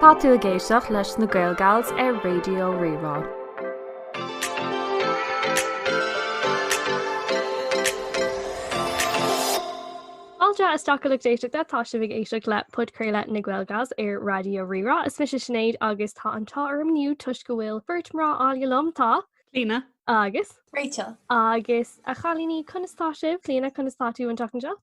Tá tú ag éisteacht leis na GaelGals ar Radio Rí-Rá. Fáilte isteach a lucht éisteachta, tá sibh ag éisteacht le Podchraoladh na GaelGals ar Radio Rí-Rá. Is mise Sinéad agus tá an t-ádh orm inniu toisc go bhfuil beirt mná áille liom, tá, Clíona. agus, Rachel. Agus a chailíní, conas tá sibh? Clíona, conas tá tú an tseachtain seo?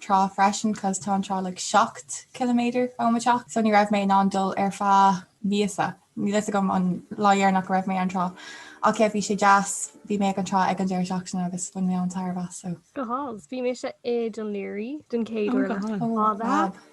trá freisin cos tá an trá like seacht ciliméadar ó mo teach so ní raibh mé in ann dul ar feadh míosa. Níl 'fhios agam an lá deireanach go raibh mé ag an trá ach céard bhí sé deas bhí mé ag an trá ag an deireadh seachtaine agus bhain mé an-tairbhe as so. Go hálainn, bhí mise i Dún Laoghaire den chéad Oh uair le God. fada.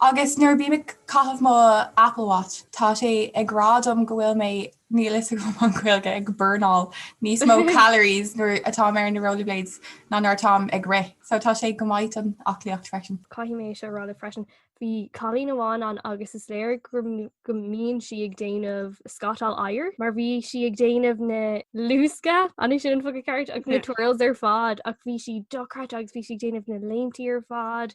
Agus nuair a bím ag caitheamh mo Apple Watch, tá sé ag rá dom go bhfuil mé níl 'fhios agam an Ghaeilge ag burnáil níos mó calories nuair atáim ar na rollerblades ná nuair atáim ag rith. So tá sé go maith don aclaíocht freisin. Caithfidh mé é seo a rá libh freisin. Bhí cailín amháin ann agus is léir go mbíonn sí ag déanamh scátáil oighir mar bhí sí ag déanamh na luasctha, an é sin an focal ceart? agus na twirls ar fad ach bhí sí dochreidte agus bhí sí ag déanamh na léimtí ar fad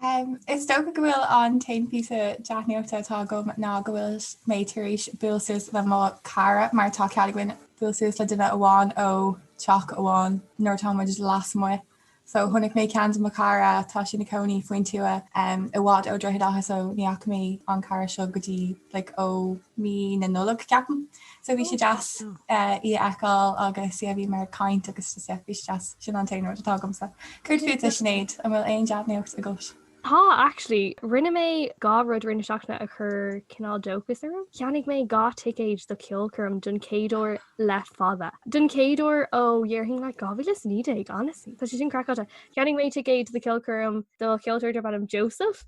Is dócha go bhfuil an t-aon phíosa dea-nuachta atá agam ná go bhfuil mé tar éis buail suas le mo chara mar tá cead againn buail suas le duine amháin ó teach amháin nuair atá muid lasmuigh so chonaic mé ceann de mo chara tá sí ina cónaí faoin tuath i bhfad ó Droichead Átha so ní fhaca mé an cara seo go dtí like ó mí na Nollag ceapaim. So bhí sé deas í a fheiceáil agus bhíomar ag caint agus bhí sé deas, sin an t-aon rud atá agamsa. Céard fútsa Sinéad, an bhfuil aon dea-nuacht agat? Tá actually, rinne mé dhá rud i rith na seachtaine a chuir cineál dóchas orm. Cheannaigh mé dhá ticéid do cheolchoirm den chéad uair le fada. Den chéad uair ó dheireadh like 2019 honestly, tá sé sin craiceáilte. Cheannaigh mé ticéid do cheolchoirm do cheoltóir darb ainm Joseph.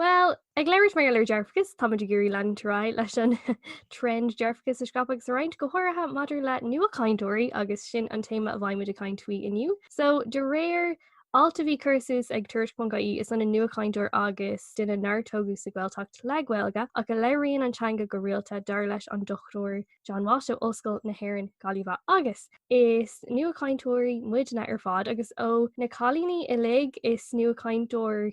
Bhuel, ag labhairt mar gheall ar dhearfachas, táimid ag iarraidh leanúint ar aghaidh leis an trend dearfachas a scaipeadh agus a roinnt, go háirithe maidir le nuachainteoirí agus sin an téama a bheimid ag caint faoi inniu. So, de réir alt a bhí curtha suas ag Tuairisc.ie, is ionann nuachainteoir agus duine nár tógadh sa Ghaeltacht le Gaeilge ach a labhraíonn an teanga go rialta, dar leis an Dr John Walsh ó Ollscoil na hÉireann, Gaillimh. Agus. is nuachainteoirí muidne ar fad agus ó na cailíní uilig is nuachainteoir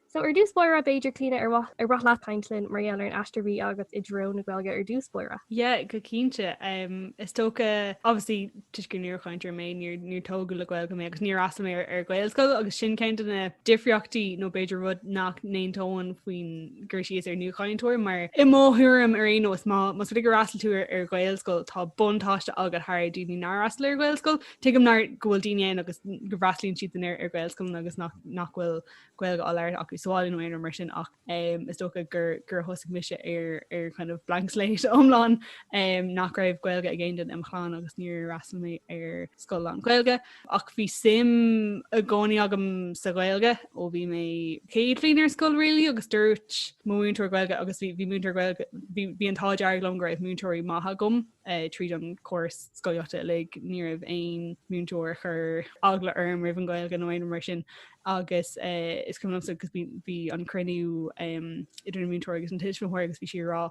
So ar dtús báire b'fhéidir Clíona ar mhaith ar mhaith leat caint linn mar gheall ar an aistear a bhí agat i dtreo na Gaeilge ar dtús báire? Yeah, go cinnte. Is dócha, obviously, toisc gur nuachainteoir mé, níor níor tógadh le Gaeilge mé agus níor fhreastail mé ar ar Ghaelscoil agus sin ceann de na difríochtaí nó b'fhéidir rud nach n-aontóinn faoin gcur síos ar nuachainteoir mar i mo thuairim ar aon nós má más rud é gur fhreastail tú ar ar Ghaelscoil tá buntáiste agat thar ar daoine nár fhreastail ar Ghaelscoil tuigim nár go bhfuil daoine ann agus go bhfreastlaíonn siad san ar ar Ghaelscoileanna agus nach nach bhfuil Gaeilge á labhairt acu sa bhaile nó aon rud mar sin ach is dócha gur gur thosaigh mise ar ar kind of blank slate iomlán nach raibh Gaeilge ag aon duine im chlann agus níor fhreastail mé ar scoil lán-Ghaeilge ach bhí suim i gcónaí agam sa Ghaeilge ó bhí mé céad bhliain ar scoil really agus dúirt mo mhúinteoir Gaeilge agus bhí múinteoir Gaeilge bhí an t-ádh dearg liom go raibh múinteoirí maithe agam a. Tríd an gcóras scolaíochta uilig, ní raibh aon mhúinteoir a chuir eagla orm roimh an Ghaeilge nó aon rud mar sin agus is cuimhin liomsa agus bhí an cruinniú idir an múinteoir agus an tuismitheoir agus bhí sí ag rá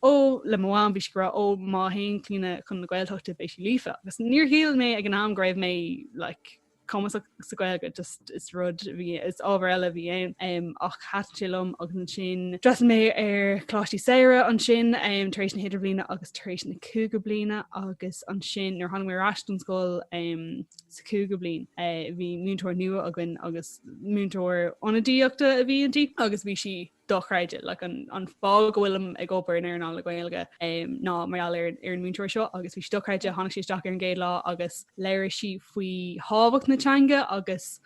ó le mo mham bhí sí ag rá ó má théann Clíona chun na Gaeltachta beidh sí líofa agus níor shíl mé ag an am go raibh mé like cumasach sa Gaeilge just is rud a bhí is ábhar eile a bhí ann em, ach thaitin sé liom agus ansin d'fhreastail mé ar choláistí Samhraidh ansin em, tar éis na hIdirbhliana agus tar éis na Cúigiú Bliana agus ansin nuair a tháinig mé ar ais don scoil em, sa Chúigiú Bliain eh, bhí múinteoir nua againn agus múinteoir ionadaíochta a bhí inti agus bhí sí dochreidte, like an an fáth go bhfuilim ag obair in earnáil na Gaeilge em ná mar gheall ar ar an múinteoir seo agus bhí sí dochreidte, tháinig sí isteach ar an gcéad lá agus labhair sí faoi thábhacht na teanga agus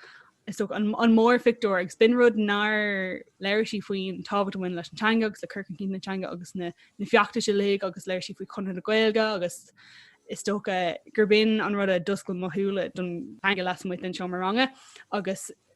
is dócha an an mór phictiúr agus b'in rud nár labhair sí faoin tábhacht a bhain leis an teanga agus le cur chun cinn na teanga agus na na feachtais uilig agus labhair sí faoi Chonradh na Gaeilge agus is dócha gur b'in an rud a d'oscail mo shúile don teanga lasmuigh den seomra ranga agus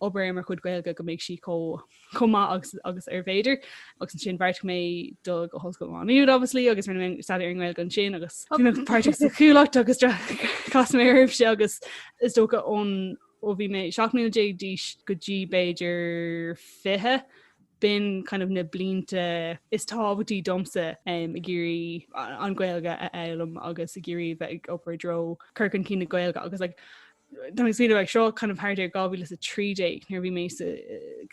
obair ar mo chuid Gaeilge go mbeidh sí chomh maith agus agus arbh fhéidir agus ansin bheartaigh mé dul go hOllscoil Mhá Nuad obviously agus rinne mé staidéar ar an nGaeilge ansin agus bhí mé páirteach sa Chuallacht agus chas mé oraibhse agus is dócha ón ó bhí mé 17 mbliana d'aois go dtí b'fhéidir 20 b'in kind of na blianta is tábhachtaí domsa um, ag iarraidh an Gaeilge a fhoghlaim agus ag iarraidh bheith ag obair i dtreo cur chun cinn na Gaeilge agus like, Tá mé ag smaoineamh seo kind of thart ar 2013 nuair a bhí mé sa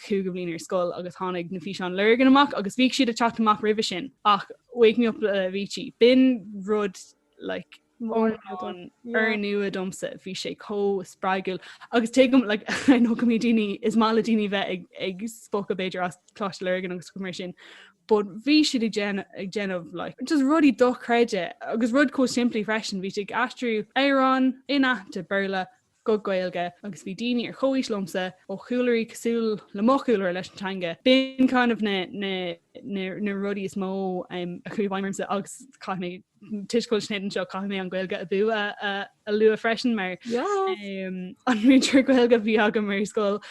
chúigiú bliain ar scoil agus tháinig na físeáin Lurgan amach agus bhíodh siad ag teacht amach roimhe sin ach Wake Me Up le Avicii. B'in rud like úrnua domsa bhí sé chomh spreagúil agus tuigim like, nó go mbíonn daoine is maith le daoine bheith ag, ag spochadh b'fhéidir as Coláiste Lurgan agus rudaí mar sin but bhí siad ag déanamh like just rudaí dochreidte agus rud chomh simplí freisin, bhí siad ag aistriú amhráin inaitheanta Béarla go Gaeilge agus bhí daoine ar chomhaois liomsa ó chúlraí cosúil le mo chúlra leis an teanga, b'in kind of na rudaí is mó a chuaigh i bhfeidhm ormsa agus chaith mé toisc go bhfuil Sinéad anseo caithfidh mé an Gaeilge Abú a lua freisin mar an múinteoir Gaeilge a bhí agam ar scoil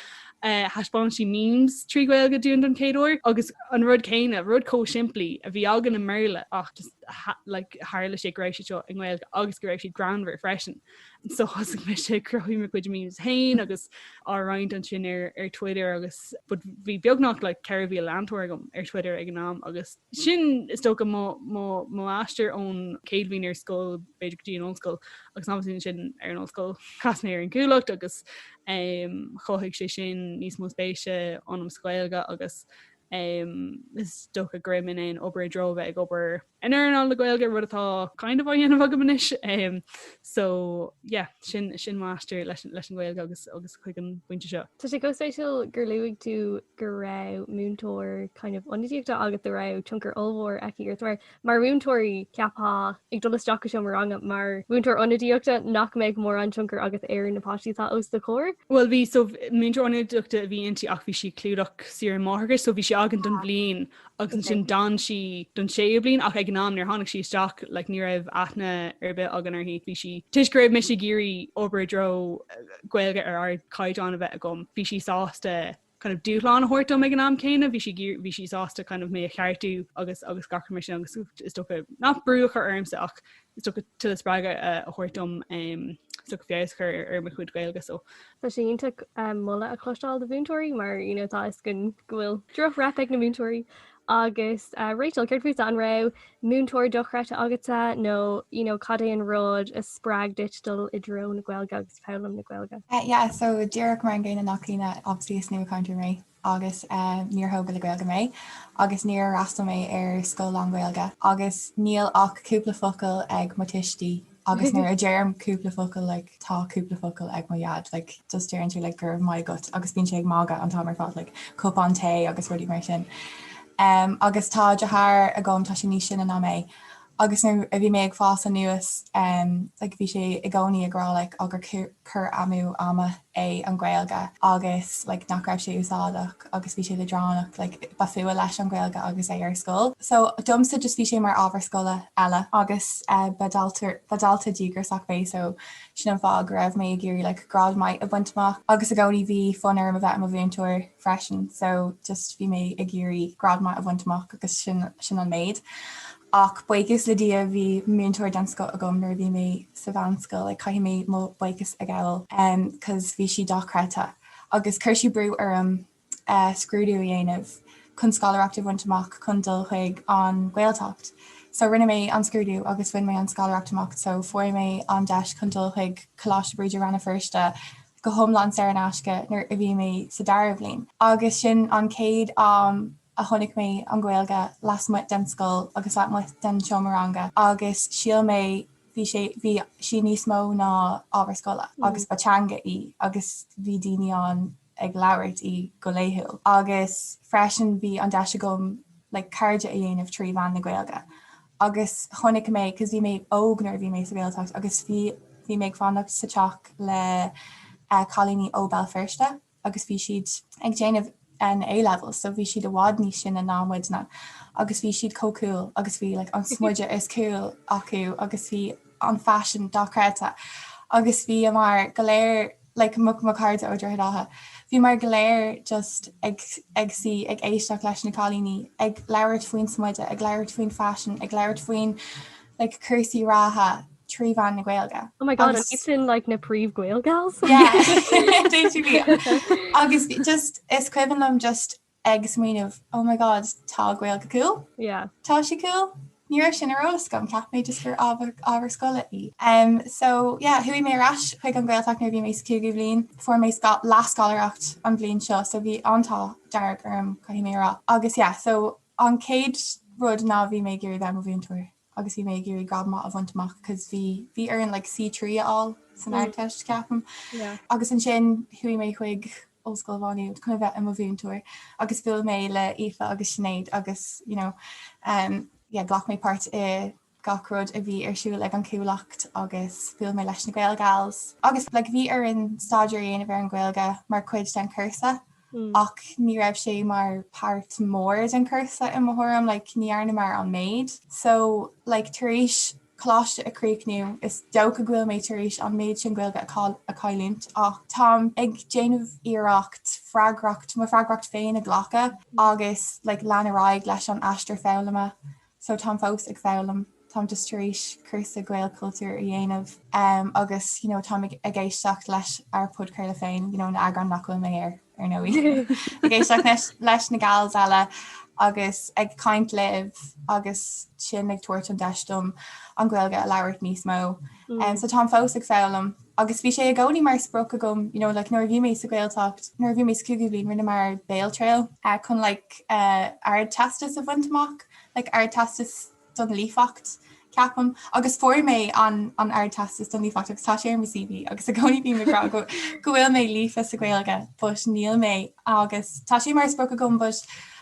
thaispeáin sí memes trí Ghaeilge dúinn don chéad uair agus an rud céanna rud chomh simplí a bhí againn i mBéarla ach tharla sé go raibh siad seo i nGaeilge agus go raibh siad greannmhar freisin. So thosaigh mise ag cruthú mo chuid memes féin agus á roinnt ansin ar Twitter agus bhí beagnach 4,000 leantóir agam ar Twitter ag an am agus Sin, is dócha, mo aistear ón chéad bhliain ar scoil, b'fhéidir, go dtí an ollscoil agus ansin ar an ollscoil. Chas mé ar an gCuallacht agus chothaigh sé sin níos mó spéise ionam sa Ghaeilge agus is dócha go raibh mé in ann obair i dtreo a bheith ag obair in earnáil na Gaeilge, rud atá kind of á dhéanamh agam anois. So, yeah, sin mo aistear leis an Ghaeilge agus chuig an bpointe seo. Tá sé chomh spéisiúil gur luaigh tú go raibh múinteoir kind of ionadaíochta agat, go raibh tionchar ollmhór aici ort mar mar mhúinteoirí, ceapfá, ag dul isteach go seomra ranga, mar mhúinteoir ionadaíochta, nach mbeadh mórán tionchar agat ar na páistí atá os do chomhair? Bhuel bhí, so múinteoir ionadaíochta a bhí inti ach bhí sí ag clúdach saoire máithreachais, so bhí sí againn don bhliain. agus ansin d'fhan sí don séú bliain ach ag an am nuair tháinig sí isteach like ní raibh aithne ar bith againn uirthi. Bhí sí toisc go raibh mise ag iarraidh obair i dtreo Gaeilge ar ardchaighdeán a bheith agam bhí sí sásta kind of dúshlán a thabhairt dom ag an am céanna bhí sí bhí sí sásta kind of mé a cheartú agus agus gach rud mar sin agus is dócha nach brú a chur ormsa ach Is dócha tuilleadh spreagadh a thabhairt dom so feabhas a chur ar mo chuid Gaeilge so. Tá sé iontach moladh a chloisteáil do mhúinteoirí mar you know tá fhios againn go bhfuil droch-rap ag na múinteoirí agus Rachel céard fútsa an raibh múinteoir dochreidte agatsa nó you know cad é an rud a spreag duit dul i dtreo na Gaeilge agus foghlaim na Gaeilge? Yeah so díreach mar an gcéanna le Caoimhe obviously is nua-chainteoir mé agus níor thógadh le Gaeilge mé agus níor fhreastal mé ar scoil lánGhaeilge agus níl ach cúpla focal ag mo tuistí agus nuair a deirim cúpla focal like tá cúpla focal ag mo Dhaid like just deireann sé like go raibh maith agat agus bíonn sé ag magadh an t-am ar fad like cupán tae agus rudaí mar sin. Um, agus tá deartháir agam tá sé níos sine ná mé Agus nuair a bhí mé ag fás aníos, like, bhí sé i gcónaí ag rá, like, á gur cur amú ama é an Ghaeilge agus, like, nach raibh sé úsáideach agus bhí sé leadránach, like, ba fuath leis an Ghaeilge agus é ar scoil. So, domsa just bhí sé mar ábhar scoile eile. Agus ba dalta, ba dalta díograiseach mé so sin an fáth go raibh mé ag iarraidh, like, grád maith a bhaint amach. Agus i gcónaí bhí fonn orm a bheith i mo mhúinteoir. freisin so just bhí mé ag iarraidh grád maith a bhaint amach agus sin an méid. Ach buíochas le Dia bhí múinteoir den scoth agam nuair a bhí mé sa mheánscoil ah caithfidh mé mo buíochas a ghabhail umm cos bhí sí dochreidte agus chuir sí brú orm eh scrúdú a dhéanamh chun scoláireacht a bhaint amach chun dul chuig an Ghaeltacht. So rinne mé an scrúdú agus bhain mé an scoláireacht amach so fuair mé an deis chun dul chuig Coláiste Bríde Ranna Feirste go hiomlán saor in aisce nuair a bhí mé sa dara bhliain agus sin an chéad am a chonaic mé an Ghaeilge lasmuigh den scoil agus lasmuigh den seomra ranga agus shíl mé bhí bhí sí níos mó ná ábhar scoile agus ba teanga í agus bhí daoine ann ag labhairt í go laethúil agus freisin bhí an deis agam like cairde a dhéanamh trí mheán na Gaeilge agus chonaic mé, cos bhí mé óg nuair a bhí mé sa Ghaeltacht agus bhí bhí mé ag fanacht sa teach le cailíní ó Bhéal Feirste agus bhí siad ag déanamh an A-Level so bhí siad i bhfad níos sine ná muidne agus bhí siad chomh cool agus bhí like an smideadh is cool acu agus bhí an faisean dochreidte agus bhíomar go léir like mo mo chairde ó Droichead Átha bhíomar go léir just ag ag suí ag éisteacht leis na cailíní ag labhairt faoin smideadh ag labhairt faoin faisean ag labhairt faoin like cúrsaí reatha trí mheán na Gaeilge. Oh my god agus sin like na príomh Gael Gals yeah agus just is cuimhin liom just ag smaoineamh oh my god tá Gaeilge cool? yeah tá sí cool? ní raibh sin ar eolas agam cheap mé just gur ábhar scoile í. Em so yeah chuaigh mé ar ais chuig an Gaeltacht nuair a bhí mé sa cúigiú bhliain, fuair mé leathscoláireacht an bhliain seo so bhí an t-ádh dearg orm caithfidh mé a rá agus yeah so an chéad rud ná bhí mé ag iarraidh bheith i mo mhúinteoir. agus bhí mé ag iarraidh grád maith a bhaint amach cos bhí bhí orainn like C3 a fháil san Ardteist ceapaim agus ansin chuaigh mé chuig Ollscoil Mhá Nuad chun a bheith i mo mhúinteoir agus bhuail mé le Aoife agus Sinéad agus you know um yeah ghlac mé páirt i gach rud a bhí ar siúl ag an Chuallacht agus bhuail mé leis na Gael Gals agus like bhí orainn staidéar a dhéanamh ar an Ghaeilge mar chuid den cúrsa ach ní raibh sé mar páirt mór den cúrsa i mo thuairim like ní dhearnamar an méid so like tar éis coláiste a críochnú is dócha go bhfuil mé tar éis an méid sin Gaeilge a cailliúint ach táim ag déanamh iarracht freagracht mo freagracht féin a ghlacadh agus like lean ar aghaidh leis an aistear foghlama So táim fós ag foghlaim, táim just tar éis cúrsa Gaelchultúr a dhéanamh agus you know táim ag éisteacht leis ár podchraoladh féin, you know na eagráin nach bhfuil mé air ar ndóigh. Ag éisteacht leis na gals eile agus ag caint libh agus sin ag tabhairt an deis dom an Ghaeilge a labhairt níos mó. So táim fós ag foghlaim. Agus bhí sé i gcónaí mar sprioc agam, you know, like nuair a bhí mé sa Ghaeltacht, nuair a bhí mé sa Chúigiú Bhliain, rinne muid béaltriail, eh, chun like eh, ardteastas a bhaint amach, like ardteastas don líofacht, ceapaim, agus fuair mé an, an ardteastas don líofacht agus tá sé ar mo CV agus i gcónaí bím ag rá go, go bhfuil mé líofa sa Ghaeilge but níl mé agus tá sé mar sprioc agam but,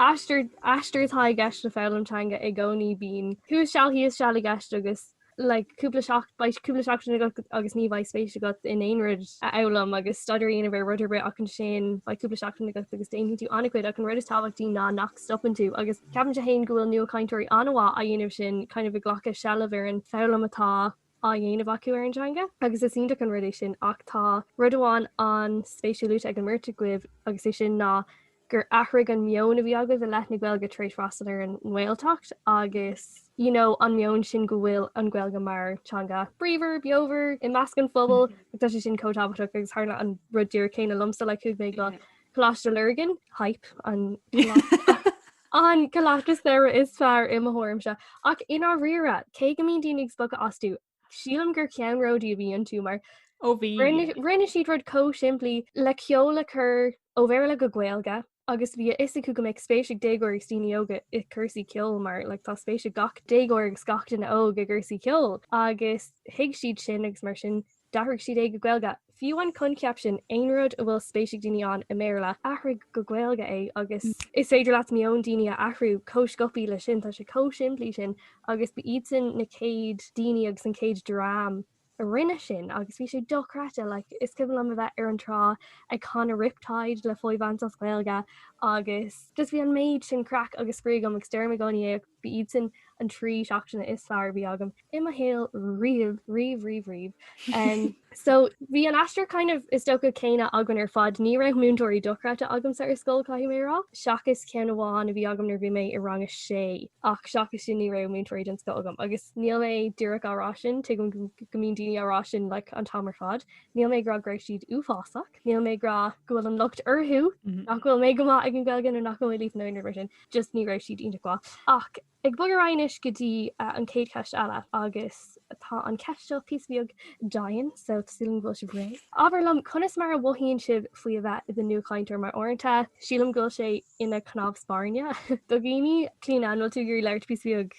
Aistear, aistear atá i gceist le foghlaim teanga i gcónaí, bíonn thuas seal thíos seal i gceist agus like cúpla seach, beidh cúpla seachtain agat agus ní bheidh spéis agat in aon rud a fhoghlaim agus staidéar a dhéanamh ar rud ar bith ach ansin beidh cúpla seachtain agat agus déanfaidh tú an-chuid ach an rud is tábhachtaí ná nach stopann tú agus ceapann tú go bhfuil nuachainteoirí an-mhaith á dhéanamh sin cineál ag glacadh seilbh ar an foghlaim atá á dhéanamh acu ar an teanga, agus is iontach an rud é sin ach tá rud amháin an-spéisiúil luaite ag an mbeirt agaibh agus is é sin ná gur athraigh an meon a bhí agaibh i leith na Gaeilge tar éis freastal ar an nGaeltacht agus you know an meon sin go bhfuil an Ghaeilge mar teanga bríomhar, beomhar i measc an phobail ach tá sé sin chomh tábhachtach agus tharla an rud díreach céanna liomsa like chuaigh mé go Coláiste Lurgan, hype, an Coláiste. An coláiste samhraidh is fearr i mo thuairimse, ach i ndáiríre, cé go mbíonn daoine ag spochadh astu, sílim gur ceannródaí a bhí iontu mar ó bhí, rinne siad rud chomh simplí le ceol a chur ó Bhéarla go Gaeilge agus bhí a fhios acu go mbeadh spéis ag déagóirí agus daoine óga i gcúrsaí ceoil mar like tá spéis ag gach déagóir agus gach duine óg i gcúrsaí ceoil agus thuig siad sin agus mar sin D'athraigh siad é go Gaeilge. Fiú an coincheap sin, aon rud a bhfuil spéis ag daoine ann i mBéarla, athraigh go Gaeilge é agus is féidir leat meon daoine a athrú chomh scioptha leis sin. Tá sé chomh simplí sin agus ba iadsan na chéad daoine agus an chéad dream a rinne sin agus bhí sé dochreidte. Like, is cuimhin liom a bheith ar an trá ag canadh Riptide le Foy Vance as Gaeilge agus just bhí an méid sin craic agus spraoi agam agus deirim i gcónaí é ach Ba iad sin na trí seachtaine is fearr a bhí agam i mo shaol riamh, riamh, riamh, riamh. So, bhí an aistear kind of, is dócha, céanna againn ar fad. Ní raibh múinteoirí dochreidte agamsa ar scoil, caithfidh mé a rá, seachas ceann amháin a bhí agam nuair a bhí mé i rang a sé. Ach seachas sin ní raibh múinteoirí den scoth agam. Agus níl mé díreach á rá sin, tuigim go mbíonn daoine á rá sin like an t-am ar fad. Níl mé ag rá go raibh siad uafásach. níl mé ag rá go bhfuil an locht orthu nach bhfuil mé go maith ag an Gaeilge nó nach bhfuil mé líofa nó aon rud mar sin just ní raibh siad iontach mhaith. Ach ag bogadh ar aghaidh anois go dtí an chéad cheist eile agus tá an cheist seo píosa beag dian so sílim go bhfuil sibh réidh. Abair liom conas mar a mhothaíonn sibh faoi a bheith i do nuachainteoir mar uaireanta sílim go bhfuil sé ina cnámh spairne do dhaoine. Clíodhna, an bhfuil tú ag iarraidh labhairt píosa beag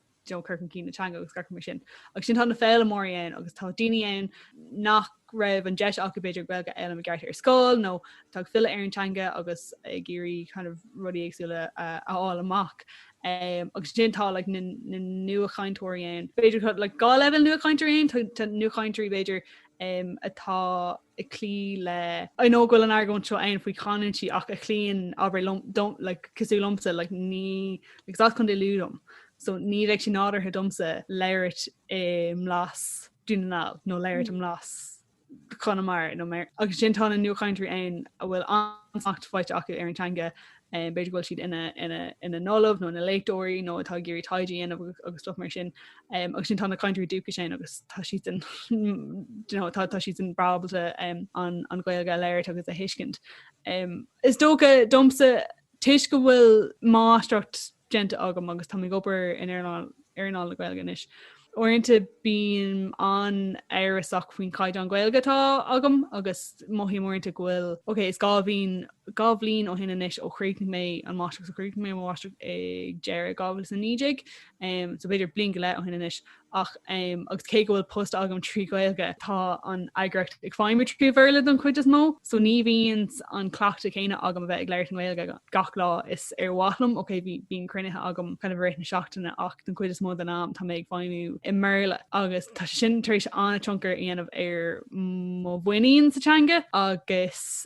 you know, cur chun cinn na teanga agus gach rud mar sin. Agus sin tá na foghlaimeoirí ann agus tá daoine ann nach raibh an deis acu b'fhéidir Gaeilge a fhoghlaim i gceart ar scoil nó tá ag filleadh ar an teanga agus ag iarraidh kind of rudaí éagsúla uh, a fháil amach. Um, agus ansin tá like, na, na nuachainteoirí ann. B'fhéidir like, dhá leibhéal nuachainteoirí ann, tá nuachainteoirí b'fhéidir um, atá ag cloí le. I know go bhfuil an argóint seo ann faoi chanúintí ach a chloíonn abair le, don, like, cosúil liomsa, like, ní, like, is as Contae Lú dom, so ní bheadh sé nádúrtha domsa labhairt i mblas Dhún na nGall nó labhairt i mblas Chonamara nó mar, agus ansin tá na nuachainteoirí ann a bhfuil an-smacht faighte acu ar an teanga b'fhéidir go bhfuil siad ina n-ollamh nó ina léachtóirí nó atá ag iarraidh taighde a dhéanamh agus stuff mar sin agus ansin tá na cainteoirí dúchais ansin agus tá siad tá siad an-ábalta an Ghaeilge a labhairt agus a thuiscint. Is dócha domsa toisc go bhfuil máistreacht déanta agam agus táim ag obair in earnáil na Gaeilge anois. Uaireanta bím an-amhrasach faoin caighdeán Gaeilge atá agam agus mothaím uaireanta go bhfuil, ok, is dhá bhliain, dhá bhliain ó shin anois ó chríochnaigh mé an mháistreacht, chríochnaigh mé mo mháistreacht ag deireadh 2019, so b'fhéidir bliain go leith ó shin anois, ach agus cé go bhfuil post agam trí Ghaeilge tá an eagraíocht ag feidhmiú trí Bhéarla don chuid is mó so ní bhíonn an cleachtadh céanna agam a bheith ag labhairt an Ghaeilge gach lá is ba mhaith liom ok bíonn cruinnithe agam kind of i rith na seachtaine ach don chuid is mó den am tá mé ag feidhmiú i mBéarla agus tá sé sin tar éis an-tionchar a dhéanamh ar mo mhuinín sa teanga agus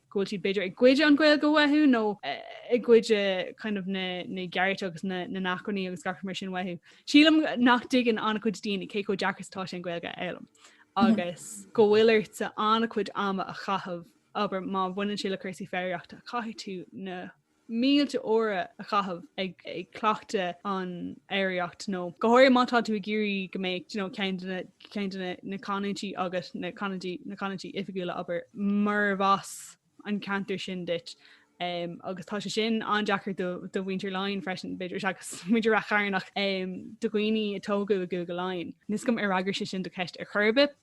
go bhfuil siad b'fhéidir ag cur an Ghaeilge uathu nó i gcoinne kind of na gcearta agus na n-acmhainní agus gach rud mar sin uathu. Sílim nach dtuigeann an-chuid daoine cé chomh deacair is atá sé an Ghaeilge a fhoghlaim agus go bhfuil ort an-chuid ama a chaitheamh, abair má bhaineann sé le cúrsaí foghraíochta caithfidh tú na mílte uaire a chaitheamh ag cleachtadh an fhoghraíocht nó go háirithe má tá tú ag iarraidh go mbeadh you know ceann de na ceann de na na canúintí agat, na canúintí na canúintí oifigiúla a abair murarbh as an ceantar sin duit ehm agus tá sé sin an-deacair do do mhuintir Laighean freisin b'fhéidir agus muintir Ráth Chairn ach ehm do dhaoine a tógadh i gCúige Laighean. Níl a fhios agam ar fhreagair sé sin do cheist ar chor ar bith.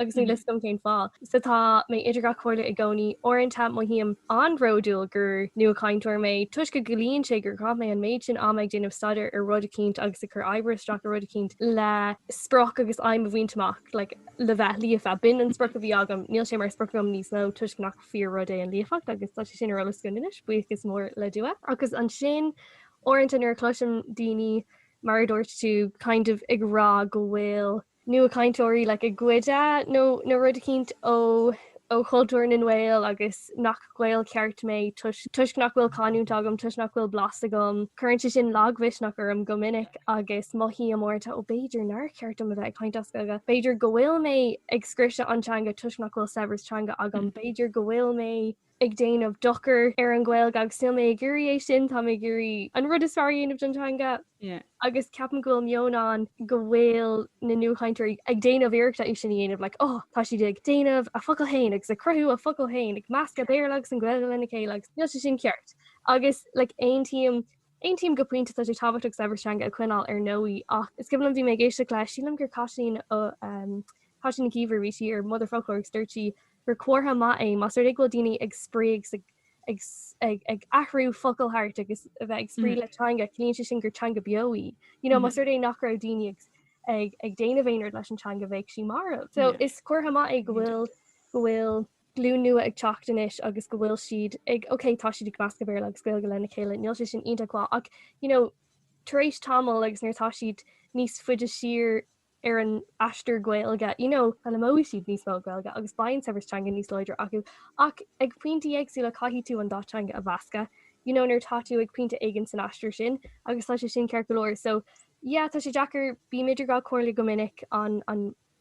agus níl a fhios agam cén fáth. Sea, tá mé idir dhá chomhairle i gcónaí. Uaireanta, mothaím an-bhródúil gur nuachainteoir mé, toisc go gciallaíonn sé gur chaith mé an méid sin ama ag déanamh staidéir ar rud eicínt agus ag cur oibre isteach i rud eicínt le sprioc agus aidhm a bhaint amach, like, le bheith líofa. B'in an sprioc a bhí agam. Níl sé mar sprioc agam níos mó, toisc nach fíor-rud é an líofacht agus tá sé sin ar eolas againn anois, buíochas mór le Dia. Agus ansin, uaireanta nuair a chloisim daoine, mar a dúirt tú, kind of ag rá go bhfuil nuachainteoirí like ag goid nó rud eicínt ó ó chultúr na nGael agus nach Gael ceart mé toisc toisc nach bhfuil canúint agam toisc nach bhfuil blas agam. Cuireann sé sin lagmhisneach orm go minic agus mothaím amanta ó b'fhéidir nár cheart dom a bheith ag caint as Gaeilge, b'fhéidir go bhfuil mé ag scriosadh an teanga toisc nach bhfuil saibhreas teanga agam, b'fhéidir go bhfuil mé. ag déanamh dochar ar an Ghaeilge agus níl mé ag iarraidh é sin, tá mé ag iarraidh an rud is fearr a dhéanamh don teanga agus ceapaim go bhfuil meon ann go bhfuil na nuachainteoirí ag déanamh iarrachta é sin a dhéanamh, like oh tá siad ag déanamh a bhfocail féin agus ag cruthú a bhfocail féin, ag meascadh Béarla agus an Ghaeilge lena chéile agus níl sé sin ceart agus like aontaím aontaím go pointe tá sé tábhachtach saibhreas teanga a choinneáil ar ndóigh ach is cuimhin liom bhí mé ag éisteacht le sílim gur Caitlín ó um, Caitlín Nic Íomhair a bhí sí ar Motherfoclóir agus dúirt sí gur comhartha maith é más rud é go bhfuil daoine ag spraoi agus ag ag athrú focal thart agus a bheith ag spraoi le teanga, ciallaíonn sé sin gur teanga beo í. You know, más rud é nach raibh daoine ag ag ag déanamh aon rud leis an teanga bheadh sí marbh. So is comhartha maith é go bhfuil go bhfuil glúin nua ag teacht anois agus go bhfuil siad ag ok tá siad ag meascadh Béarla agus Gaeilge lena chéile, níl sé sin iontach mhaith ach, you know, tar éis tamaill agus nuair atá siad níos faide siar, ar an aistear Gaeilge, you know, foghlaimeoidh siad níos mó Gaeilge agus beidh an saibhreas teanga níos láidre acu, ach ag pointí éagsúla caithfidh tú an dá teanga a mheascadh, you know, nuair atá tú ag pointe éigin san aistear sin agus tá sé sin ceart go leor. So, yeah, tá sé deacair, bím idir dhá comhairle go minic, an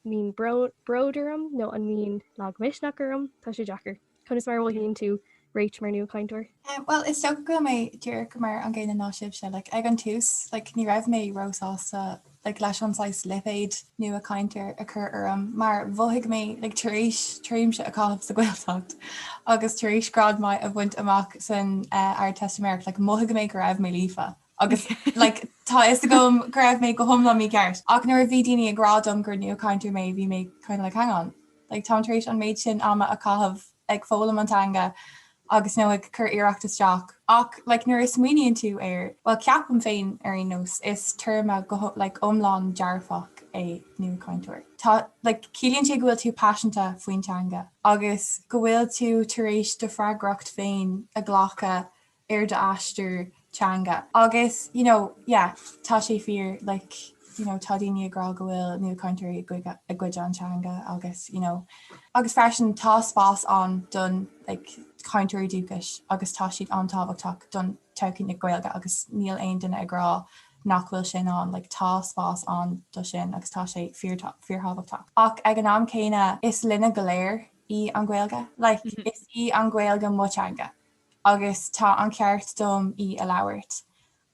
mbíonn bród orm nó an mbíonn lagmhisneach orm, tá sé deacair. Conas mar a mhothaíonn tú Rach mar nuachainteoir? Bhuel, is dócha go bhfuil mé díreach mar an gcéanna ná sibhse. Like, ag an tús, like, ní raibh mé róshásta, like, leis an saghas lipéid nuachainteoir a chur orm, mar mhothaigh mé, like, tar éis tréimshe a chaitheamh sa Ghaeltacht agus tar éis grád maith a bhaint amach san Ardteistiméireacht, like, mhothaigh mé go raibh mé líofa agus, like, tá a fhios agam go raibh mé go hiomlán mícheart. Ach nuair a bhí daoine ag rá dom gur nuachainteoir mé, bhí mé kind of like, hang on. Like táim tar éis an méid sin ama a chaitheamh ag foghlaim an teanga agus, nó ag cur iarracht isteach. Ach like nuair a smaoiníonn tú air, bhuel ceapaim féin ar aon nós, is téarma go like iomlán dearfach é nuachainteoir. Tá like ciallaíonn tú go bhfuil tú paiseanta faoin teanga agus go bhfuil tú tar éis do freagracht féin a ghlacadh ar d'aistear teanga agus you know yeah tá sé fíor like you know tá daoine ag rá go bhfuil nuachainteoirí ag goid an teanga agus you know agus freisin tá spás ann don like cainteoirí dúchais agus tá siad an-tábhachtach don todhchaí na Gaeilge agus níl aon duine ag rá nach bhfuil sin ann like tá spás ann do sin agus tá sé fíor fíorthábhachtach ach ag an am céanna is linne go léir í an Ghaeilge like is í an Ghaeilge mo teanga. agus tá an ceart dom í a labhairt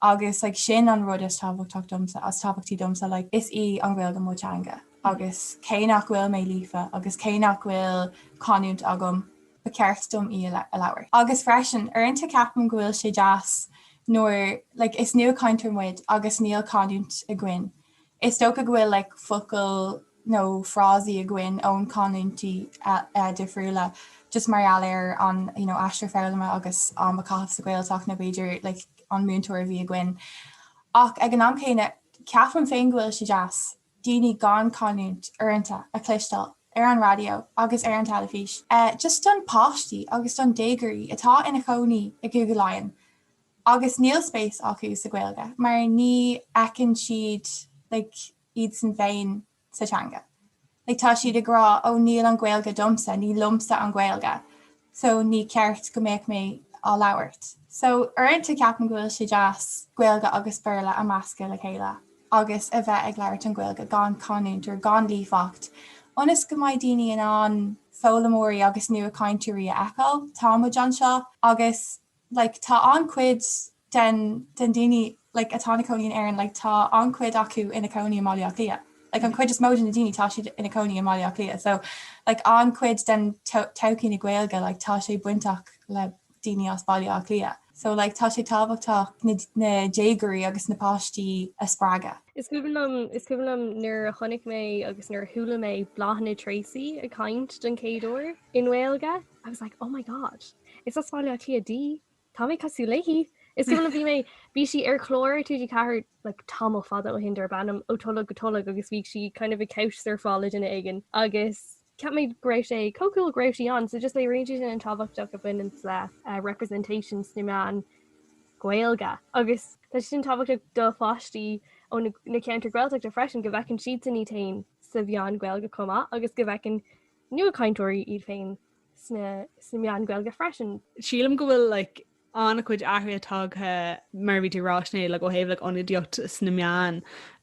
agus like sin an rud is tábhachtach domsa is tábhachtaí domsa like is í an Ghaeilge mo teanga agus cé nach bhfuil mé líofa agus cé nach bhfuil canúint agam ba cheart dom í a labhairt. Agus freisin, uaireanta ceapaim go bhfuil sé deas nuair like is nuachainteoir muid agus níl canúint againn is dócha go bhfuil like focail nó frásaí againn ón canúintí difriúla just mar gheall ar an you know aistear foghlama agus am a chaitheamh sa Ghaeltacht nó b'fhéidir like an múinteoir a bhí againn. Ach ag an am céanna ceapaim féin go bhfuil sé deas daoine gan chanúint uaireanta a chloisteáil ar an raidió agus ar an teilifís. Just don páistí agus don déagóirí atá ina cónaí i gCúige Laighean agus níl spéis acu sa Ghaeilge mar ní fheiceann siad like iadsan féin sa teanga. Like tá siad ag rá oh níl an Ghaeilge domsa, ní liomsa an Ghaeilge so ní ceart go mbeadh mé á labhairt. So uaireanta ceapaim go bhfuil sé deas Gaeilge agus Béarla a mheascadh le chéile agus a bheith ag labhairt an Ghaeilge gan canúint nó gan líofacht ionas go mbeidh daoine in ann foghlaimeoirí agus nuachainteoirí a fheiceáil. Tá muid anseo agus. like tá an-chuid den den daoine like atá ina cónaí in Éirinn like tá an-chuid acu ina cónaí i mBaile Átha Cliath. Like an chuid is mó de na daoine tá siad ina cónaí i mBaile Átha Cliath so like an-chuid den todhchaí na Gaeilge like tá sé bainteach le daoine as Baile Átha Cliath so like tá sé tábhachtach na déagóirí agus na páistí a spreagadh. Is cuimhin liom is cuimhin liom nuair a chonaic mé agus nuair a chuala mé Bláthnaid Treacy ag caint don chéad uair i nGaeilge. I was like, oh my god, is as Bhaile Átha Cliath di, tá mé cosúil léi! Is cuimhin liom bhí mé, bhí sí ar chlár TG4 like tamall fada ó shin, darb ainm Ó Tholg go Tolg agus bhí sí kind of ag couch surfáil le duine éigin agus cheap mé go raibh sé chomh cool go raibh sí ann, so just léiríonn sé sin an tábhachtach a bhaineann le representation sna meáin Ghaeilge agus tá sé sin tábhachtach do pháistí ó na ceantair Ghaeltachta freisin go bhfeiceann siadsan iad féin sa mheán Ghaeilge chomh maith agus go bhfeiceann nuachainteoirí iad féin sna meáin Ghaeilge freisin. Sílim go bhfuil an-chuid athruithe tagtha mar a bhí tú ag rá, Sinéad, ó thaobh ionadaíocht sna meáin,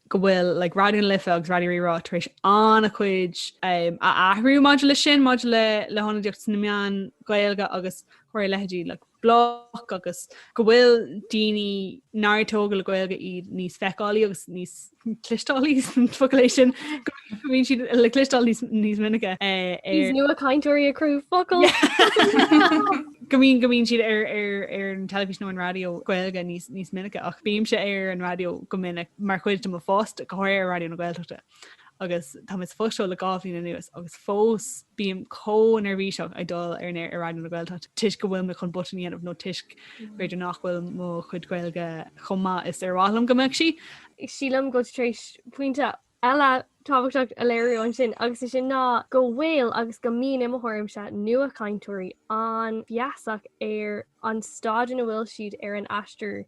go bhfuil Raidió na Life agus Raidió Rí-Rá tar éis an-chuid a athrú maidir leis sin, maidir le hionadaíocht sna meáin Ghaeilge agus ar ndóigh a leithéidí Bloc agus go bhfuil daoine nár tógadh le Gaeilge iad níos feiceálaí agus níos clisteálaí más focal é sin go bhfuil siad le clisteáil níos níos minice eh, ar- Níos nuachainteoirí ag cruthú focail. go mbíonn go mbíonn siad ar ar ar an teilifís nó an raidió Gaeilge níos níos minice ach bímse ar an raidió go minic mar chuid de mo phost go háirithe ar Raidió na Gaeltachta. agus tá mé sa phost seo le dhá bhliain anuas agus fós bím chomh neirbhíseach ag dul ar an aer ar Raidió na Gaeltacht toisc go bhfuil mé chun botún a dhéanamh nó toisc b'fhéidir nach bhfuil mo chuid Gaeilge chomh maith is ar mhaith liom go mbeadh sí. Sílim go bhfuil tú tar éis pointe eile tábhachtach a léiriú ansin agus is é sin ná go bhfuil agus go mbíonn i mo thuairimse nuachainteoirí an-fheasach ar an staid ina bhfuil siad ar an aistear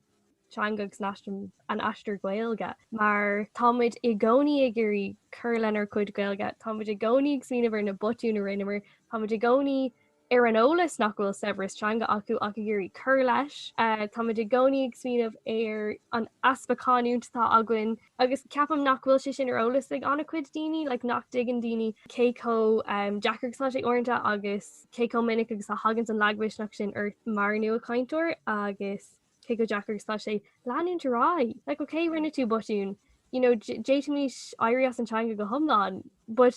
teanga agus ar an aistear Ghaeilge. Mar tá muid i gcónaí ag iarraidh cur lenár gcuid Gaeilge, tá muid i gcónaí ag smaoineamh ar na botúin a rinneamar, tá muid i gcónaí ar an eolas nach bhfuil saibhreas teanga acu ach ag iarraidh cur leis, tá muid i gcónaí ag smaoineamh ar an easpa canúint atá againn agus ceapaim nach bhfuil sé sin ar eolas ag an-chuid daoine, like nach dtuigeann daoine cé chomh deacair agus atá sé uaireanta agus cé chomh minic agus a thagann an lagmhisneach sin ort mar nua-chainteoir agus. cé chomh deacair agus tá sé leanúint ar aghaidh. Like ok rinne tú botún you know d'fhéadfaimis éirí as an teanga go hiomlán but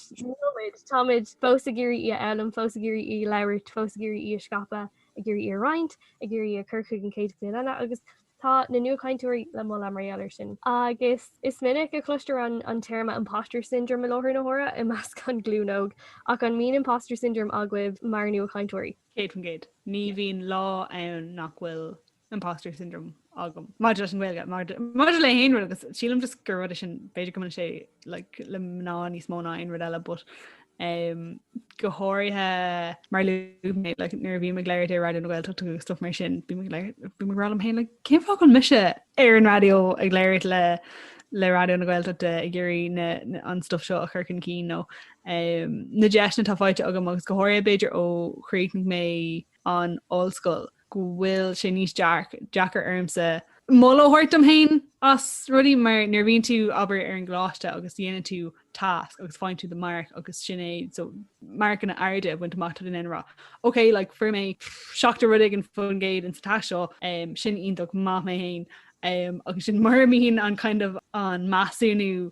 táimid fós ag iarraidh í a fhoghlaim, fós ag iarraidh í a labhairt, fós ag iarraidh í a scaipeadh, ag iarraidh í a roinnt, ag iarraidh í a chur chuig an chéad ghlúin eile agus tá na nuachainteoirí le moladh mar gheall air sin. Agus is minic a chloistear an téarma imposter syndrome i láthair na huaire i measc an ghlúin óg ach an mbíonn imposter syndrome agaibh mar nuachainteoirí? 100%. Ní bhíonn lá ann nach bhfuil imposter syndrome agam maidir leis an Ghaeilge, maidir le haon rud agus sílim just gur rud sin b'fhéidir go mbaineann sé like, le mná níos mó ná aon rud eile but um, go háirithe mar a luaigh mé like, nuair a bhí mé ag labhairt ar Raidió na Gaeltacht agus stuff mar sin bhí mé ag rá liom féin like cén fáth a bhfuil mise ar an raidió ag labhairt le le Raidió na Gaeltachta ag iarraidh na, na, an stuff seo a chur chun cinn nó um, na deiseanna atá faighte agam agus go háirithe b'fhéidir ó chríochnaigh mé an ollscoil go bhfuil sé níos deacair ormsa moladh a thabhairt dom féin as rudaí mar nuair bhíonn tú abair ar an gcoláiste agus dhéanann tú tasc agus faigheann tú do mharc agus sin é so marcanna arda a bhaint amach tá tú in ann a rá. Ok, le like, fuair mé seachtó rud éigin faoin gcéad ins an tasc seo um, sin iontach maith mé féin um, agus sin mar a bhíonn an kind of an measúnú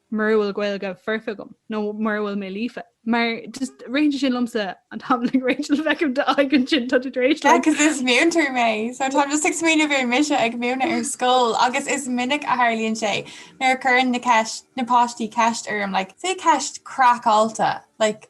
mura bhfuil Gaeilge foirfe agam nó mura bhfuil mé líofa, mar just roinn sé sin liomsa an t-am le Rachel a bheith agam d'aghaidh ansin tá tú tar éis liom. Yeah, 'cause is múinteoir mé, so táim just ag smaoineamh ar mise ag múineadh ar scoil agus is minic a tharlaíonn sé nuair a cuireann na ceist-, na páistí ceist orm, like, say ceist craiceáilte, like,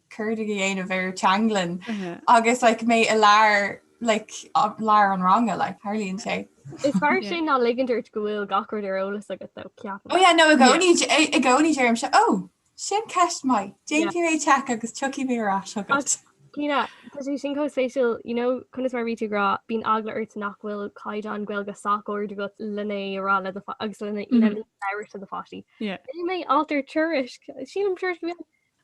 cuardaigh a dhéanamh ar Teanglann agus like mé i lár, like lár an ranga like tharlaíonn sé. Is fearr sin ná ligean ort go bhfuil gach rud ar eolas agat, dochreidte. Ó yeah no i gcónaí i gcónaí deirimse ó sin ceist mhaith déanfaidh mé check agus tiocfaidh mé ar ais agat. Cinnte. Tá sé sin chomh spéisiúil you know 'cause mar a bhí tú ag rá bíonn eagla ort nach bhfuil caighdeán Gaeilge sách ard agat lena rá le agus lena labhairt le do pháistí. Bhí mé, alt nó tuairisc sílim tuairisc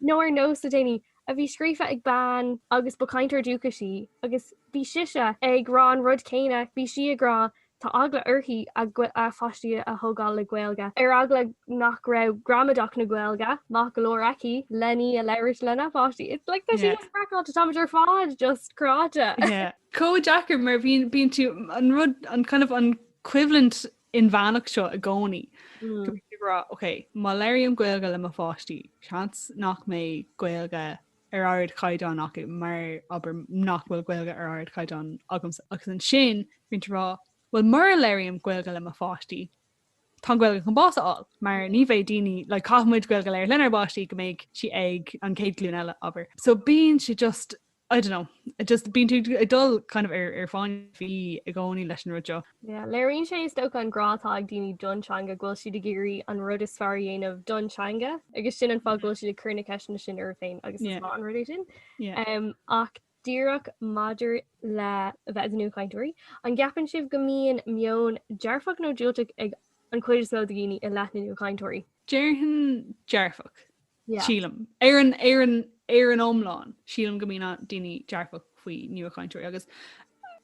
nó ar Nós le déanaí a bhí scríofa ag bean agus ba chainteoir dúchais í agus bhí sise ag rá an rud céanna, bhí sí ag rá tá eagla uirthi a páistí a thógáil le Gaeilge, ar eagla nach raibh gramadach na Gaeilge maith go leor aici lena í a labhairt lena pháistí. It's like tá sí just freakáilte, táimid ar fad just cráite. Chomh deacair mar bhíonn tú, an rud, an kind of an coimhlint inmheánach seo i gcónaí, go mbíonn tú ag rá, OK, má labhraím Gaeilge le mo pháistí, seans nach mbeidh Gaeilge ar ardchaighdeán acu mar abair nach bhfuil Gaeilge ar ardchaighdeán agamsa agus ansin bíonn tú ag rá, bhuel mura labhraím Gaeilge le mo pháistí, tá an Ghaeilge chun bás a fháil mar ní bheidh daoine, like caithfidh muid Gaeilge a labhairt lenár bpáistí go mbeidh sí ag an chéad glúin eile, abair. So bíonn sé just I don't know. Just bíonn tú ag dul kind of i bhfáinne fí i gcónaí leis an rud seo. Léiríonn sé is dócha an grá atá ag daoine don teanga go bhfuil siad ag iarraidh an rud is fearr a dhéanamh don teanga agus sin an fáth go bhfuil siad ag cur na ceisteanna sin orthu féin agus is maith an rud é sin. Ach díreach maidir le bheith ina nuachainteoirí, an gceapann sibh go mbíonn meon dearfach nó diúltach ag an chuid is mó de dhaoine i leith na nua-chainteoirí? Déarfainn dearfach. Sílim, ar an, ar an, ar an iomlán, sílim go mbíonn daoine dearfach faoi nuachainteoirí agus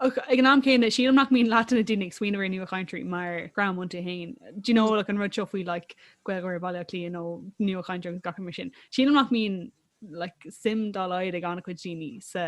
ag an am céanna sílim nach mbíonn leath na daoine ag smaoineamh ar nuachainteoirí mar dhream iontu féin. D'you know like an rud seo faoi like Gaeilgeoir Bhaile Átha Cliath nó nuachainteoirí agus gach rud mar sin. Sílim nach mbíonn like suim dá laghad ag an-chuid daoine sa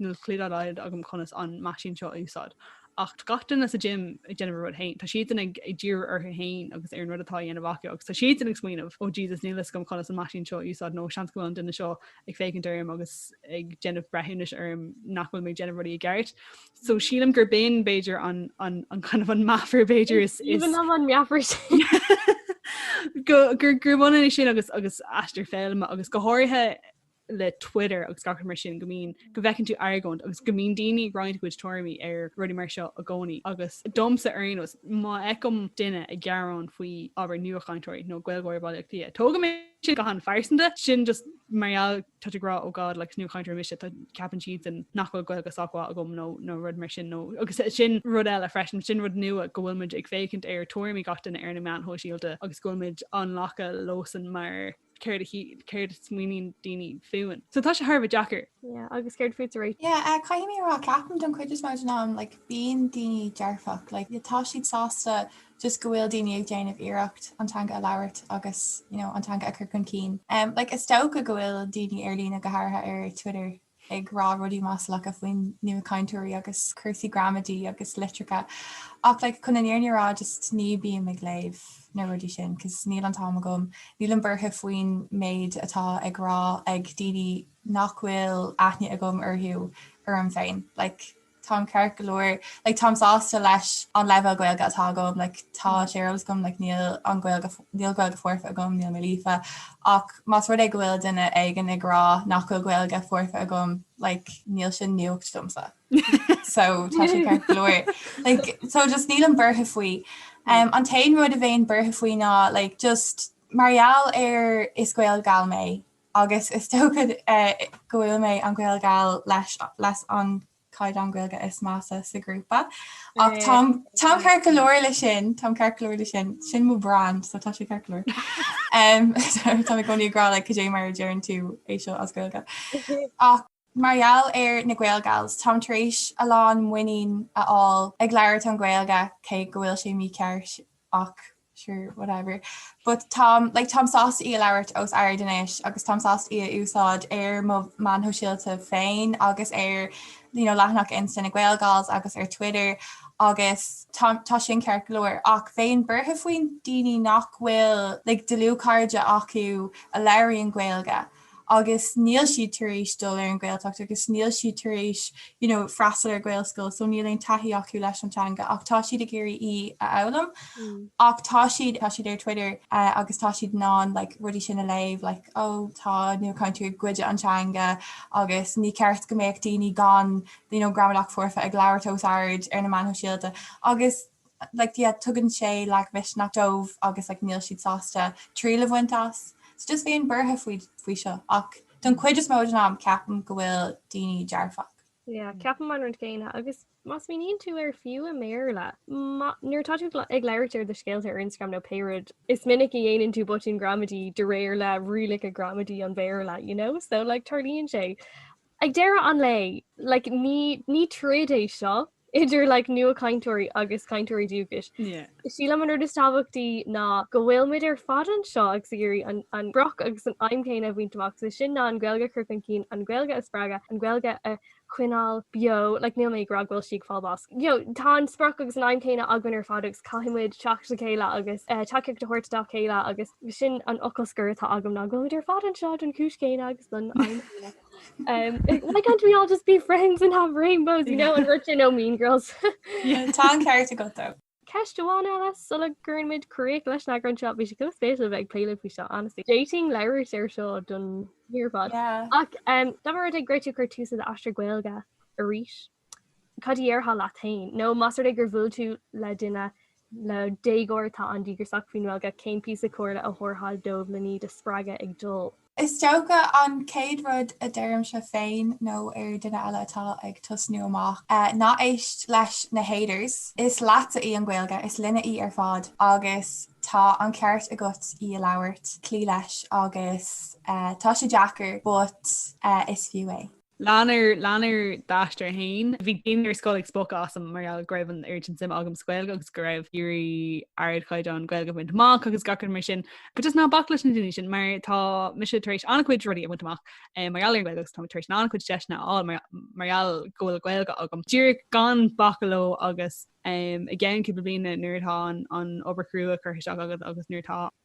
Níl clue dá laghad agam conas an meaisín seo a úsáid. Ach tá gach duine sa gym ag déanamh a rud fhéin. Tá siadsan ag ag díriú orthu fhéin agus ar an rud atá á dhéanamh acu agus tá siadsan ag smaoineamh oh Jesus níl a fhios agam conas an meaisín seo a úsáid nó seans go bhfuil an duine seo ag féachaint orm agus ag déanamh breithiúnais orm nach bhfuil mé ag déanamh rudaí i gceart. So sílim gurb in b'fhéidir an an an kind of an meafar b'fhéidir is is Even am an meafar sin. go gur gur bhaineann é sin agus aistear foghlama agus go háirithe le Twitter agus gach rud mar sin, go mbíonn, go bhfeiceann tú argóint agus go mbíonn daoine ag roinnt a gcuid tuairimí ar rudaí mar seo i gcónaí agus domsa ar aon nós má fheicim duine ag gearán faoi abair nuachainteoirí nó Gaeilgeoirí Bhaile Átha Cliath, tógaim é sin go han-phearsanta, sin just mar gheall tá tú ag rá oh God like is nuachainteoir mise, tá, ceapann siadsan nach bhfuil Gaeilge sách mhaith agam nó nó rud mar sin nó agus sin rud eile freisin, sin rud nua go bhfuil muid ag féachaint ar tuairimí gach duine ar na meáin shóisialta agus go bhfuil muid á nglacadh leosan mar céard a shíl, céard a smaoiníonn daoine fúinn. So tá sé thar bheith deacair. Yeah, agus céard fútsa? Yeah, uh, caithfidh mé rá ceapaim don chuid is mó den am, like, bíonn daoine dearfach, like, tá siad sásta just go bhfuil daoine ag déanamh iarracht an teanga a labhairt agus, you know, an teanga a chur chun cinn. Um, like, is dócha go bhfuil daoine ar líne go háirithe ar Twitter ag rá rudaí maslacha faoi nuachainteoirí agus cúrsaí gramadaí agus litreacha ach like chun an fhírinne a rá just ní bím ag léamh na rudaí sin cos níl an t-am agam, nílim buartha faoin méid atá ag rá ag daoine nach bhfuil aithne agam orthu orm féin like. táim ceart go leor, like táim sásta leis an leibhéal Gaeilge atá agam, like tá sé ar eolas agam, like níl an Gaeilge, níl Gaeilge foirfe agam, níl mé líofa, ach más rud é go bhfuil duine éigin ag rá nach bhfuil Gaeilge foirfe agam, like níl sin nuacht domsa. so tá sé ceart go leor. Like, so just nílim buartha faoi. Um, an t-aon rud a bheinn buartha faoi ná, like, just mar gheall ar is GaelGal mé, agus is dócha go bhfuil mé an GaelGal leis an caighdeán Gaeilge is measa sa ghrúpa. Ach táim ceart go leor le sin, táim ceart go leor le sin, sin mo brand so tá sé ceart go leor. Tá mé i gcónaí ag rá like cad é mar a deireann tú é seo as Gaeilge. Mar gheall ar na GaelGals, táim tar éis a lán muinín a fháil ag labhairt an Ghaeilge, cé go bhfuil sé mícheart ach sure, whatever. But táim, like, táim sásta í a labhairt os ard anois agus táim sásta í a úsáid ar mo mheáin shóisialta féin agus ar, you know, leathanach Insta na GaelGals agus ar Twitter agus tá, tá sin ceart go leor. Ach bheinn buartha faoi daoine nach bhfuil, like, dlúthchairde acu a labhraíonn Gaeilge, agus níl siad tar éis dul ar an Ghaeltacht agus níl siad tar éis you know freastal ar Ghaelscoil so níl aon taithí acu leis an teanga ach tá siad ag iarraidh í a fhoghlaim ach tá siad tá siad ar Twitter uh, agus tá siad in ann like, rudaí sin a léamh like, ó oh, tá nuachainteoirí ag goid an teanga agus ní ceart go mbeadh daoine gan you know, gramadach foirfe ag labhairt os ard ar na meáin shóisialta agus like tugann sé lagmhisneach dóibh agus like níl siad sásta triail a bhaint as so just bheinn buartha faoi faoi seo ach don chuid is mó den am ceapaim go bhfuil daoine dearfach. Yeah, ceapaim an rud céanna agus má smaoiníonn tú air fiú i mBéarla, ma, nuair atá tú ag labhairt ar do scéalta ar Instagram nó pé rud, is minic a dhéanann tú botúin gramadaí de réir le rialacha gramadaí an Bhéarla, you know, so like tarlaíonn sé. Ag deireadh an lae, like, ní, ní troid é seo idir, like, nuachainteoirí agus cainteoirí dúchais. Yeah. Sílim an rud is tábhachtaí ná go bhfuil muid ar fad anseo agus ag iarraidh an, an sprioc agus an aidhm chéanna a bhaint amach, so sin ná an Ghaeilge a chur chun cinn, an Ghaeilge a spreagadh, an Ghaeilge a choinneáil beo, like, níl mé ag rá go bhfuil sí ag fáil báis. you know, tá an sprioc agus an aidhm céanna againn ar fad agus caithfidh muid teacht le chéile agus eh, tacaíocht a thabhairt dá chéile agus sin an focal scoir atá agam ná go muid ar fad anseo don chúis céanna agus don aidhm céanna. Um, like, why can't we all just be friends and have rainbows, you know, an rud sin ó Mean Girls. Tá an ceart acu. Ceist amháin eile sula gcuireann muid críoch leis an eagrán seo bhí sé chomh spéisiúil bheith ag plé faoi seo honestly d'fhéadfainn labhairt ar seo don oíche ar fad Yeah. ach um, dá mba rud é go raibh tú ag cur tús le d'aistear Gaeilge arís cad a dhéarfá leat féin? Nó más rud é gur bhuail tú le duine, le déagóir atá an-díograiseach faoin nGaeilge, cén píosa comhairle a thabharfá dóibh len iad a spreagadh ag dul. Is dócha an chéad rud a deirimse féin nó ar duine eile atá ag tosnú amach, ná éist leis na haters. Is leatsa í an Ghaeilge, is linne í ar fad agus tá an ceart agat í a labhairt, cloí leis agus tá sé deacair but is fiú é. Lean ar, lean ar d'aistear fhéin. Bhí daoine ar scoil ag spochadh asam mar gheall go raibh an oiread sin suime agam sa Ghaeilge agus go raibh mé ag iarraidh ardchaighdeán Gaeilge a bhaint amach agus gach rud mar sin. But just ná bac leis na daoine sin mar tá mise tar éis an-chuid rudaí a bhaint amach mar gheall ar an Ghaeilge agus táim tar éis an-chuid deiseanna a fháil mar gheall go bhfuil Gaeilge agam. Díreach gan bacadh leo agus i gceann cúpla bliana nuair atá an obair chrua curtha isteach agat agus nuair atá.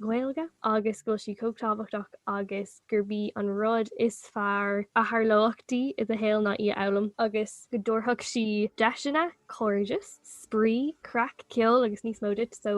Ghaeilge agus go bhfuil sí chomh tábhachtach agus gurb í an rud is fearr a tharlódh di sa tsaol ná í a fhoghlaim agus go dtabharfadh sí deiseanna, cairdeas, spraoi, craic, ceol agus níos mó duit so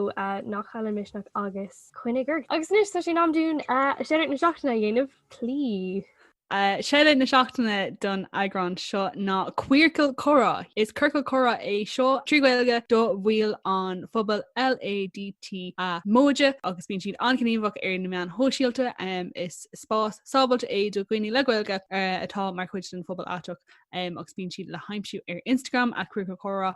ná caill an misneach agus coinnigh ort. Agus anois tá sé in am dúinn Shoutout na Seachtaine a dhéanamh, please! Shoutout na seachtaine don eagrán seo ná Queercal Comhrá. Is ciorcal comhrá é seo trí Ghaeilge do bhaill an phobail LADTA móide agus bíonn siad an-ghníomhach ar na meáin shóisialta. Is spás sábháilte é do dhaoine le Gaeilge atá mar chuid den phobal aiteach agus bíonn siad le haimsiú ar Instagram @queercalcomhrá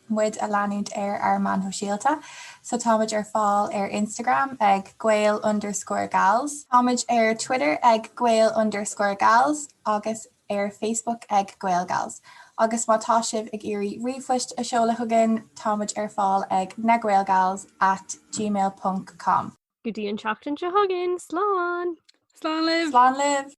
muid a leanúint ar ár meáin shóisialta so táimid ar fáil ar Instagram ag gael underscore gals, táimid ar Twitter ag gael underscore gals agus ar Facebook ag GaelGals agus má tá sibh ag iarraidh ríomhphoist a seoladh chugainn táimid ar fáil ag na gaelgals at gmail ponc com. Go dtí an tseachtain seo chugainn, slán! Slán libh! Slán libh!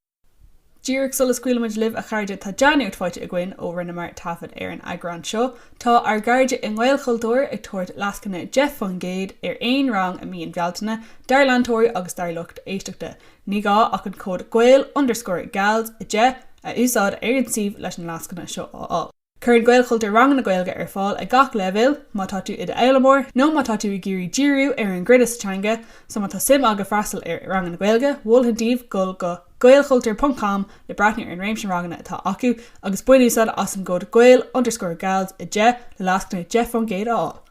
Díreach sula scaoilimid libh, a chairde, tá dea-nuacht faighte againn ó rinneamar taifead ar an eagrán seo. Tá ár gcairde i nGaelchultúr ag tabhairt lascaine 10 faoin gcéad ar aon rang i mí an Bhealtaine dár leantóirí agus dár lucht éisteachta. Ní gá ach an cód gael underscore gals a 10 a úsáid ar an suíomh leis an lascaine seo a fháil. Cuireann Gaelchultúr ranganna Gaeilge ar fáil ag gach leibhéal, má tá tú i d'fhoghlaimeoir nó má tá tú ag iarraidh díriú ar an gcruinneas sa teanga, so má tá suim agat freastal ar ranganna Gaeilge, mholfainn daoibh dul go gaelchultur ponc com le breathnú ar an réimse ranganna atá acu agus bain úsáid as an gcód gael underscore gals 10 le lascaine 10 faoin gcéad a fháil.